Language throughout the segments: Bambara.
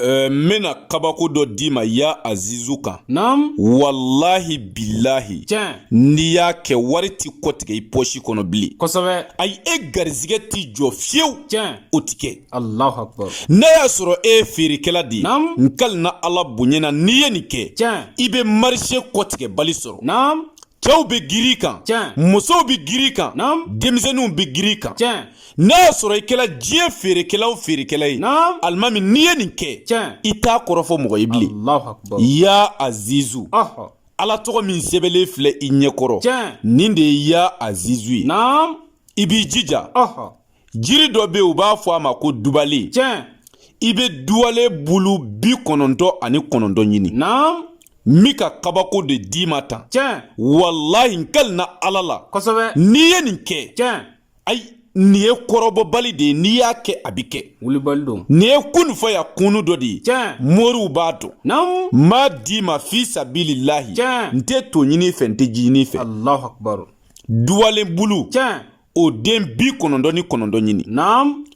Euh, n bena kabako dɔ d'i ma ya azizu kan naam walahi bilahi tiɲɛ n'i y'a kɛ wari ti kɔtigɛ i pɔsi kɔnɔ bilen kosɛbɛ ayi e garizigɛ t'i jɔ fiyewu tiɲɛ o ti kɛ alahu akbar n'a y'a sɔrɔ e ye feerekɛla de ye naam n kalina ala bonya na n'i ye nin kɛ tiɲɛ i be marise kɔtigɛbali sɔrɔ naam cɛw be giri kan tiɲɛ musow be giri kan naam denmisɛninw be giri kan tiɲɛ n'a y'a sɔrɔ i kɛla diɲɛ feerekɛla o feerekɛla ye alimami n'i ye nin kɛ i t'a kɔrɔfɔ mɔgɔ ye bilen ya azizu ala tɔgɔ min sɛbɛnlen filɛ i ɲɛkɔrɔ nin de ye ya azizu ye i b'i jija jiri dɔ bɛ yen u b'a fɔ a ma ko dubalen i bɛ duwale bulu bi kɔnɔntɔn ani kɔnɔntɔn ɲini n bi n ka kabako de d'i ma tan walayi n kali na ala la n'i ye nin kɛ ayi nin ye kɔrɔbɔbali de ye n'i y'a kɛ a bɛ kɛ wulibali don nin ye kunu fayakunu dɔ de ye tiɲɛ moriw b'a dɔn naamu n b'a d'i ma fi sabililahi tiɲɛ n tɛ to ɲin'i fɛ n tɛ ji ɲin'i fɛ alahu akubaru duwalen bulu tiɲɛ o den bi kɔnɔntɔn ni kɔnɔntɔn ɲini naamu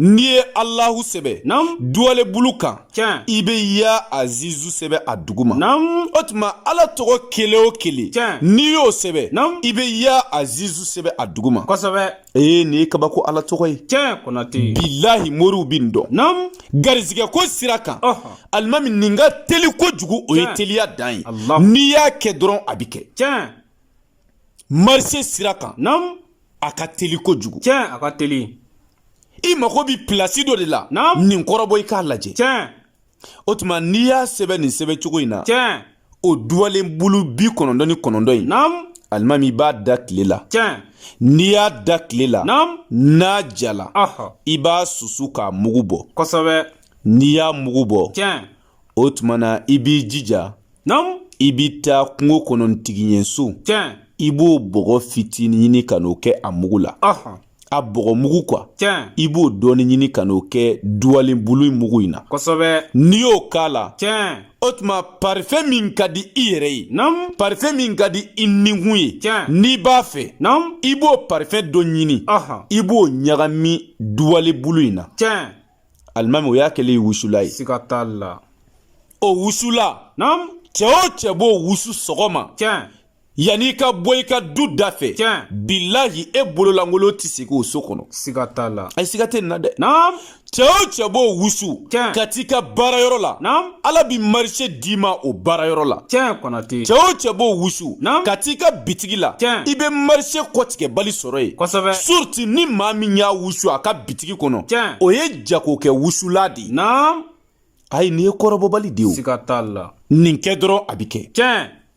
n'i ye alahu sɛbɛ duwale bulu kan i bɛ ya azizu sɛbɛ a duguma o tuma ala tɔgɔ kelen o kelen n'i y'o sɛbɛ i bɛ ya azizu sɛbɛ a duguma ee nin ye kabako ala tɔgɔ ye tiɲɛ kɔnatɛ bilahi moriw bi nin dɔn naamu garizigɛ ko sira kan alimami nin ka teli kojugu o ye teliya dan ye n'i y'a kɛ dɔrɔn a bɛ kɛ tiɲɛ marise sira kan naamu a ka teli kojugu tiɲɛ a ka teli i mago bi pilasi dɔ de la naamu nin kɔrɔbɔ i k'a lajɛ tiɲɛ o tuma n'i y'a sɛbɛn nin sɛbɛn cogo in na tiɲɛ o duwalen bulu bi kɔnɔntɔn ni kɔnɔntɔn in naamu alimami i b'a da tile la tiɲɛ n'i y'a da tile la naamu n'a jala i b'a susu k'a mugu bɔ kosɛbɛ n'i y'a mugu bɔ tiɲɛ o tuma na i b'i jija i bɛ taa kungo kɔnɔ tigiɲɛso i b'o bɔgɔ fitinin ɲini ka n'o kɛ a mugu la a bɔgɔ mugu kuwa i b'o dɔɔnin ɲini ka n'o kɛ duwalen bulu mugu in na n'i y'o k'a la o tuma parifɛn min ka di i yɛrɛ ye parifɛn min ka di i nikun ye n'i b'a fɛ i b'o parifɛn dɔ ɲini i b'o ɲagami duwalen bulu in na alimami o y'a kɛlen ye wusula ye siga t'a la o wusula naamu cɛ o cɛ b'o wusu sɔgɔma tiɲɛ yanni i ka bɔ i ka du da fɛ tiɲɛ bilahi e bololankolon tɛ sekɔ so kɔnɔ siga t'a la ayi siga tɛ nin na dɛ naamu cɛ o cɛ b'o wusu tiɲɛ ka t'i ka baarayɔrɔ la naamu ala bi marché d'i ma o baarayɔrɔ la tiɲɛ Konate cɛ o cɛ b'o wusu ka t'i ka bitigi la tiɲɛ i be marché kɔtigɛbali sɔrɔ yen kosɛbɛ surtout ni maa min y'a wusu a ka bitigi kɔnɔ tiɲɛ o ye jagokɛ wusulan de naam ayi nin ye kɔrɔbɔbali de o siga t'a la nin kɛ dɔrɔn a bi kɛ tiɲɛ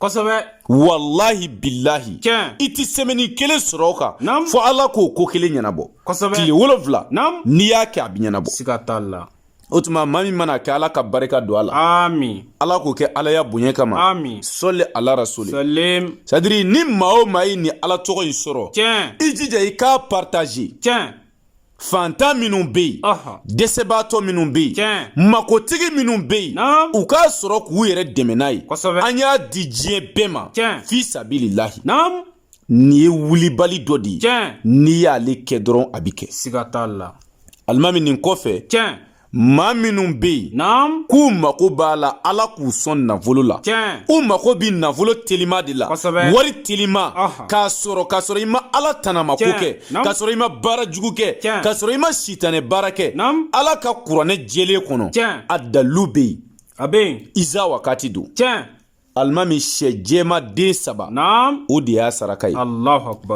kosɛbɛ walahi bilahi tiɲɛ i tɛ semaine kelen sɔrɔ o kan Naamu. fo ala k'o ko kelen ɲɛnabɔ Kosɛbɛ. tile wolonfila Naamu. n'i y'a kɛ a bɛ ɲɛnabɔ siga t'a la o tuma maa min mana kɛ ala ka barika don a la ami ala k'o kɛ alaya bonya kama Amin. sɔli ala rasuli salim c'est-à-dire ni maa o maa ye nin ala tɔgɔ in sɔrɔ tiɲɛ i jija i k'a partager tiɲɛ fantan minnu bɛ yen dɛsɛbaatɔ minnu bɛ yen makotigi minnu bɛ yen u k'a sɔrɔ k'u yɛrɛ dɛmɛ n'a ye an y'a di diɲɛ bɛɛ ma fi sabililahi nin ye wulibali dɔ de ye n'i y'ale kɛ dɔrɔn a bɛ kɛ siga t'a la alimami nin kɔfɛ maa minnu bɛ yen k'u mago b'a la ala k'u sɔn nafolo la u mago bɛ nafolo telima de la wari telima k'a sɔrɔ k'a sɔrɔ i ma ala tanamako kɛ k'a sɔrɔ i ma baara jugu kɛ k'a sɔrɔ i ma sitanɛ baara kɛ ala ka kuranɛ jɛlen kɔnɔ a dalilu bɛ yen a bɛ yen iza wakati don alimami sɛ jɛman den saba o de y'a saraka ye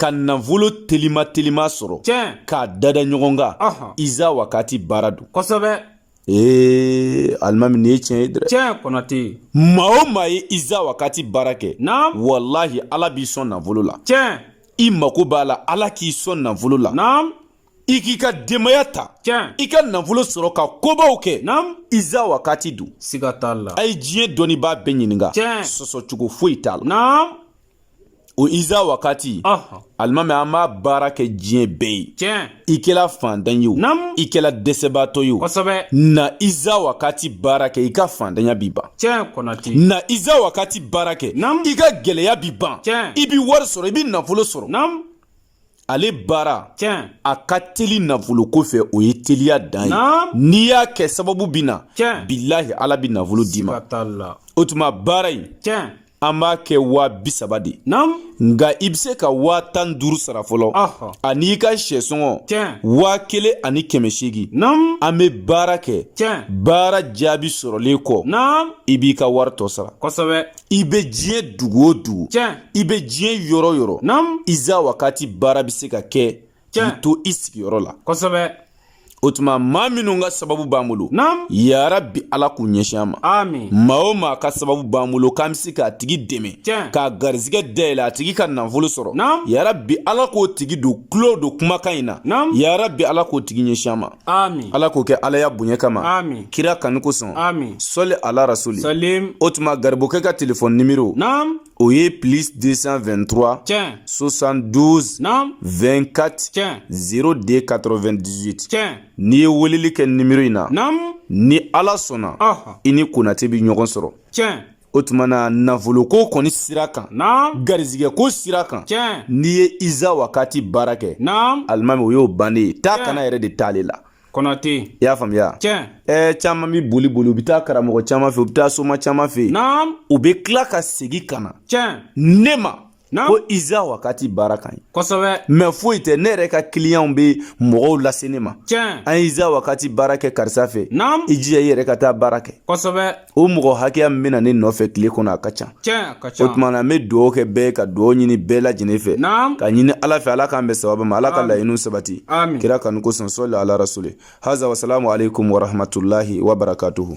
ka nafolo telima telima sɔrɔ k'a dada ɲɔgɔn kan iza wakati baara don ee alimami nin ye tiɲɛ ye dɛ tiɲɛ Konate maa o maa ye iza wakati baara kɛ walahi ala b'i sɔn nafolo la tiɲɛ i mako b'a la ala k'i sɔn nafolo la i k'i ka denbaya ta tiɲɛ i ka nafolo sɔrɔ ka kobaw kɛ naam iza wakati don siga t'a la a ye diɲɛ dɔnnibaa bɛɛ ɲininka tiɲɛ sɔsɔcogo foyi t'a la naam o iza wakati ɔhɔ alimami an b'a baara kɛ diɲɛ bɛɛ ye tiɲɛ i kɛla fantan ye o Naam. i kɛla dɛsɛbaatɔ ye o kosɛbɛ na iza wakati baara kɛ i ka fantanya bi ban tiɲɛ Konate na iza wakati baara kɛ Naam. i ka gɛlɛya bi ban Tiɲɛ. i bi wari sɔrɔ i bi nafolo sɔrɔ naam ale baara tiɲɛ a ka teli nafolo ko fɛ o ye teliya dan ye n'i y'a kɛ sababu bɛ na tiɲɛ bilahi ala bɛ nafolo d'i ma o tuma baara in tiɲɛ an b'a kɛ waa bi saba de nka i bɛ se ka waa tan duuru sara fɔlɔ ani i ka sɛsɔngɔ waa kelen ani kɛmɛ seegin an bɛ baara kɛ baara jaabi sɔrɔlen kɔ i b'i ka wari tɔ sara kosɛbɛ i bɛ diɲɛ dugu o dugu i bɛ diɲɛ yɔrɔ yɔrɔ iza wakati baara bɛ se ka kɛ k'i to i sigiyɔrɔ la kosɛbɛ o tuma maa minnu ka sababu b'an bolo yarabi ala k'u ɲɛsin an ma maa o maa ka sababu b'an bolo k'an bɛ se k'a tigi dɛmɛ k'a garizigɛ dayɛlɛ a tigi ka nafolo sɔrɔ yarabi ala k'o tigi don tulo don kumakan in na yarabi ala k'o tigi ɲɛsin an ma ala k'o kɛ alaya bonya kama kira kanu kosɔn sɔli ala rasuli o tuma garibukɛ ka telefɔni nimero o ye plus 223 tiɲɛ 72 naam 24 tiɲɛ 02 98 tiɲɛ n'i ye weleli kɛ nimero in na naam ni ala sɔnna i ni konate bɛ ɲɔgɔn sɔrɔ tiɲɛ o tuma na nafoloko kɔni sira kan naam garizigɛko sira kan tiɲɛ n'i ye iza wakati baara kɛ naam alimami o y'o bannen ye taa ka na yɛrɛ de t'ale la konate i y'a faamuya tiɲɛ ɛɛ caman bi boli boli u bi taa karamɔgɔ caman fɛ u bi taa soma caman fɛ naam u be tila ka segi ka na tiɲɛ ne ma naam ko iza wakati baara k'an ye kosɛbɛ mɛ foyi tɛ ne yɛrɛ ka kiliyanw be mɔgɔw lase ne ma tiɲɛ an ye iza wakati baara kɛ karisa fɛ naam i jija i yɛrɛ ka taa baara kɛ kosɛbɛ o mɔgɔ hakɛya min bɛ na ne nɔfɛ tile kɔnɔ a ka ca o tuma na n bɛ dugawu kɛ bɛɛ ka dugawu ɲini bɛɛ lajɛlen fɛ ka ɲini ala fɛ ala k'an bɛn sababu ma ala ka laɲiniw sabati kira kanu kosɔn sɔli ala rasuli haza wasalamu aleykum warahmatulahi wabarakatuhu